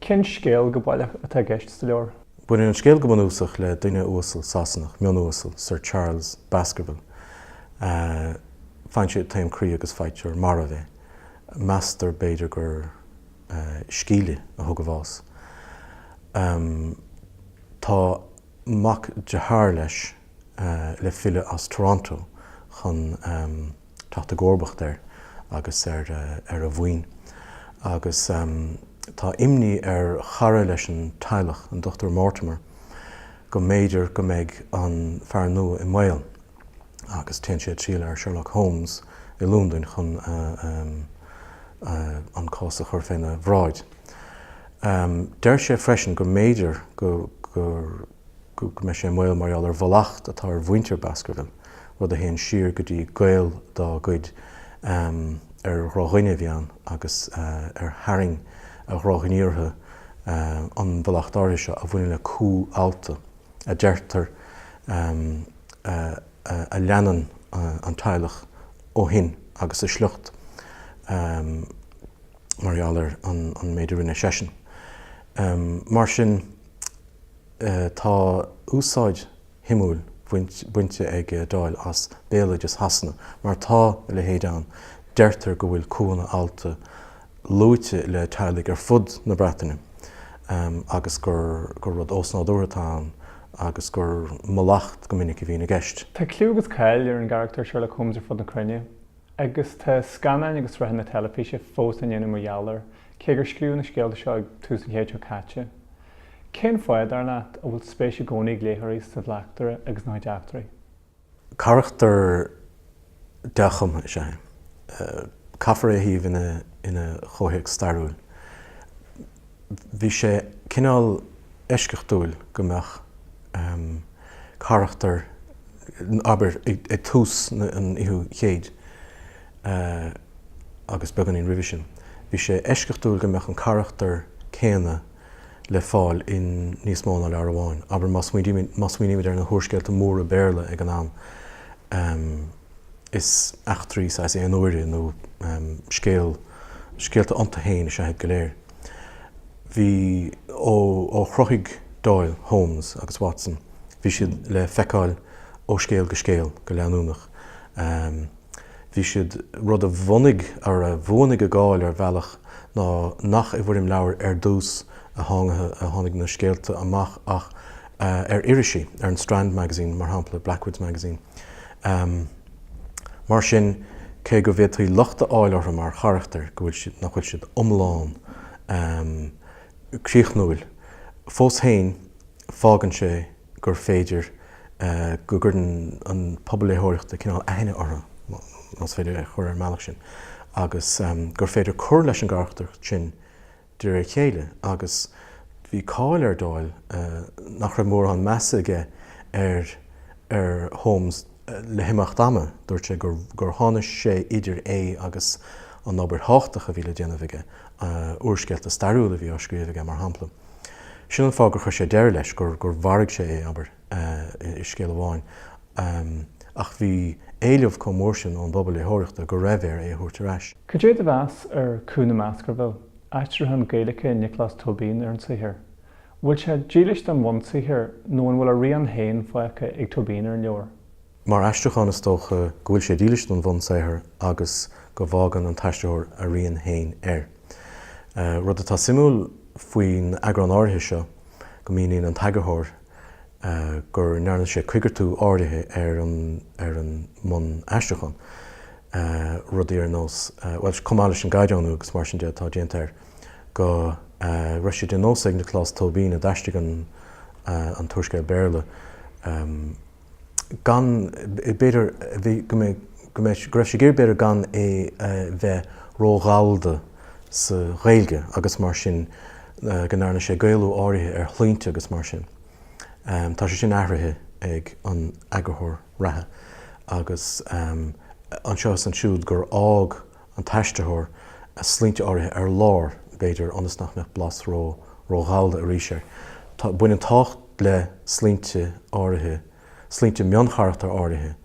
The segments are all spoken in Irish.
Cén scéal go baileach atá i gceist sa leabhar? Baineann an scéal go bunúsach le duine uasal Sasanach, mion-uasal, Sir Charles Baskerville. Faigheann sé taom croí agus faightear marbh é. Meastar, b'fhéidir, gur scíle a thug a bhás. Tá mac dearthár leis le filleadh as Toronto chun teacht i gcomharbacht air agus ar a mhaoin. Agus tá imní ar chara leis an teaghlach, an Dr Mortimer, go mb'fhéidir go mbeidh an fear nua i mbaol agus téann sé ag triall ar Sherlock Holmes i Lúndain chun an cás a chur faoina bhráid. Deir sé freisin go mb'fhéidir gur. go mbeidh sé i mbaol mar gheall ar mhallacht atá ar mhuintir Baskerville, rud a théann siar go dtí gaol dá gcuid ar dhrabhlásaí a bhí ann agus ar tharraing a dhrochghníomhartha an mhallacht áirithe seo, a bhaineann le cú allta, a deirtear, a leanann an teaghlach ó shin agus a sliocht mar gheall ar an méid a rinne seisean. Mar sin. Tá úsáid shuimiúil bainte ag Doyle as béaloideas Shasana mar tá a leithéid ann, deirtear go bhfuil cúanna allta luaite le teaghlaigh ar fud na Breataine agus gur rud ósnádúrtha atá ann agus gur mallacht go minic a bhíonn i gceist. Tá clú agus cáil ar an gcarachtar Sherlock Holmes ar fud na cruinne. Agus tá scannáin agus sraitheanna teilifíse fós á ndéanamh mar gheall air, cé gur scríobhadh na scéalta seo ag tús an chéid seo caite. Cén fáth, dar leat, a bhfuil spéis i gcónaí ag léitheoirí sa bhleachtaire agus ina chuid eachtraí? Carachtar dea-chumtha is ea é. Caithfear é a shuíomh ina chomhthéacs stairiúil. Bhí sé cineál eisceachtúil go mbeadh carachtar, abair, ag tús an fhichiú céad agus beagáinín roimhe sin, bhí sé eisceachtúil go mbeadh an carachtar céanna le fáil i níos mó ná leabhar amháin, abair, má smaoinímid ar na húrscéalta móra Béarla ag an am. Is eachtraí saghas aon-uaire nó scéal, scéalta iontu fhéin is ea iad go léir. Bhí, ó, ó chruthaigh Doyle, Holmes agus Watson, bhí siad le feiceáil ó scéal go scéal, go leanúnach. Bhí siad, rud a bhunaigh, nó a bhuanaigh a gcáil ar bhealach ná nach i bhfoirm leabhair ar dtús a tháinig na scéalta amach ach ar irisí, ar an Strand Magazine, mar shampla, Blackwood's Magazine. Ahem. Mar sin, cé go bhféadfaí locht a fháil orthu mar charachtair, go bhfuil siad, nach bhfuil siad iomlán, ahem, críochnúil, fós féin, fágann sé gur féidir go gcuireann an pobal léitheoireachta cineál aithne orthu, más féidir é a chur ar an mbealach sin, agus gur féidir cur leis an gcarachtar sin De réir a chéile, agus bhí cáil ar Doyle nach raibh mórán measa aige ar ar Holmes le himeacht ama, dúirt sé gur tháinig sé idir é agus an obair thábhachtach a bhí le déanamh aige, úrscéalta stairiúla a bhí á scríobh aige, mar shampla. Sin an fáth gur chuir sé deireadh leis, gur mharaigh sé é, abair, i scéal amháin. ach bhí éileamh chomh mór sin ón bpobal léitheoireachta go raibh air é a thabhairt ar ais. Cad é do mheas ar Cú na mBaskerville, aistriúchán Gaeilge Nioclás Tóibín ar an saothar? An bhfuil sé dílis don bhunsaothar nó an bhfuil a rian féin fágtha ag Tóibín ar an leabhar? Mar aistriúchán is dócha go bhfuil sé dílis don bhunsaothar agus go bhfágann an t-aistritheoir a rian féin air. Rud atá suimiúil faoin eagrán áirithe seo go míníonn an t-eagarthóir go ndearna sé coigeartú áirithe ar an ar an mbunaistriúchán, rudaí ar nós, bhuel, chomh maith leis an gcaighdeánú agus mar sin de atá déanta air, go raibh sé de nós ag Nioclás Tóibín, a d'aistrigh an an t-úrscéal Béarla, gan é b'fhéidir go raibh sé ag iarraidh b'fhéidir gan é a bheith ró-ghallda sa Ghaeilge agus mar sin go ndearna sé Gaelú áirithe ar shloinnte agus mar sin. Tá sé sin athraithe ag an eagarthóir reatha agus anseo is ansiúd gur fhág an t-aistritheoir sloinnte áirithe ar lár, b'fhéidir, ionas nach mbeadh blas ró, ró-Ghallda arís air. Tá, baineann tábhacht le sloinnte áirithe, sloinnte mioncharachtar áirithe,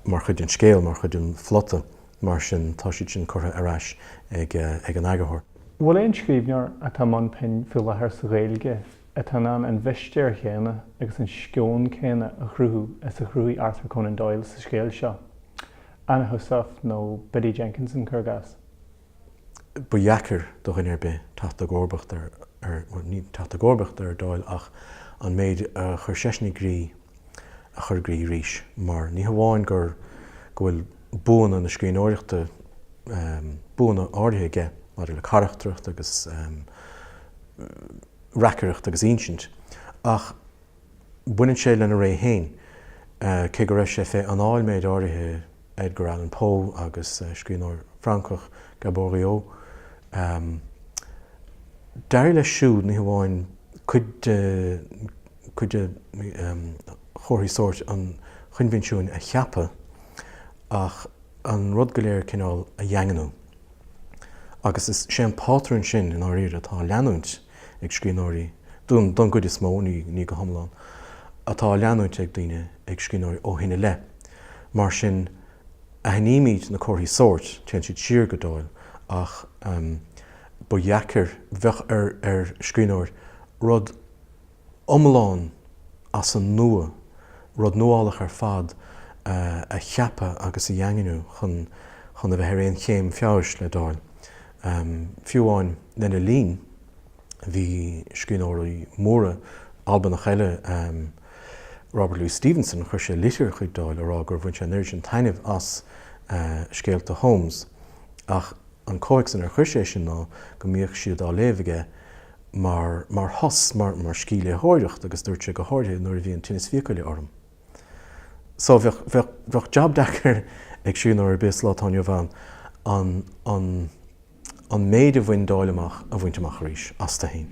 mar chuid den scéal, mar chuid den phlota, mar sin tá siad sin curtha ar ais ag an eagarthóir. An bhfuil aon scríbhneoir atá i mbun pinn faoi láthair sa Ghaeilge atá in ann an mhistéir chéanna agus an sceon céanna a chruthú is a chruthaigh Arthur Conan Doyle sa scéal seo? Anna Heussaff nó Biddy Jenkinson, cuir i gcás. Ba dheacair do dhuine ar bith teacht i gcomharbacht ar, bhuel, ní teacht i gcomharbacht ar Doyle ach an méid a chuir seisean i gcrích a chur i gcrích arís mar ní hamháin gur go bhfuil buanna na scríbhneoireachta, buanna áirithe aige maidir le carachtracht agus reacaireacht agus insint ach. baineann sé lena ré féin, cé go raibh sé fé anáil méid áirithe Edgar Allan Poe agus scríbhneoir Francach, Gaboriau. D'éirigh leis siúd, ní hamháin cuid de chuid de chomharthaí sóirt an choinbhinsiúin a cheapadh, ach an rud go léir cineál a dhaingniú. Agus is é an pátrún sin, i ndáiríre, atá á leanúint. ag scríbhneoirí, don gcuid is mó, ní go hiomlán, atá á leanúint ag daoine, ag scríbhneoirí, ó shin i leith. Mar sin, aithnímid na comharthaí sóirt, téann siad siar go Doyle, ach ba dheacair, bheadh ar scríbhneoir rud, iomlán as an nua, rud nuálach ar fad a cheapadh agus a dhaingniú chun a bheith ar aon chéim feabhais le Doyle. Fiú amháin lena linn, bhí scríbhneoirí móra Albannach eile, Robert Louis Stevenson, chuir sé litir chuig Doyle a rá gur bhain sé an oiread sin taitnimh as scéalta Holmes, ach an comhthéacs inar chuir sé é sin ná go mbíodh siad á léamh aige mar mar shos, mar mar scíthléitheoireacht agus dúirt sé go háirithe nuair a bhí an tinneas fiacaile orm. So bheadh, bheadh, bheadh jab deacair ag scríbhneoir ar bith sa lá atá inniu ann an, an, an méid a bhain Doyle amach a bhaint amach arís astu féin.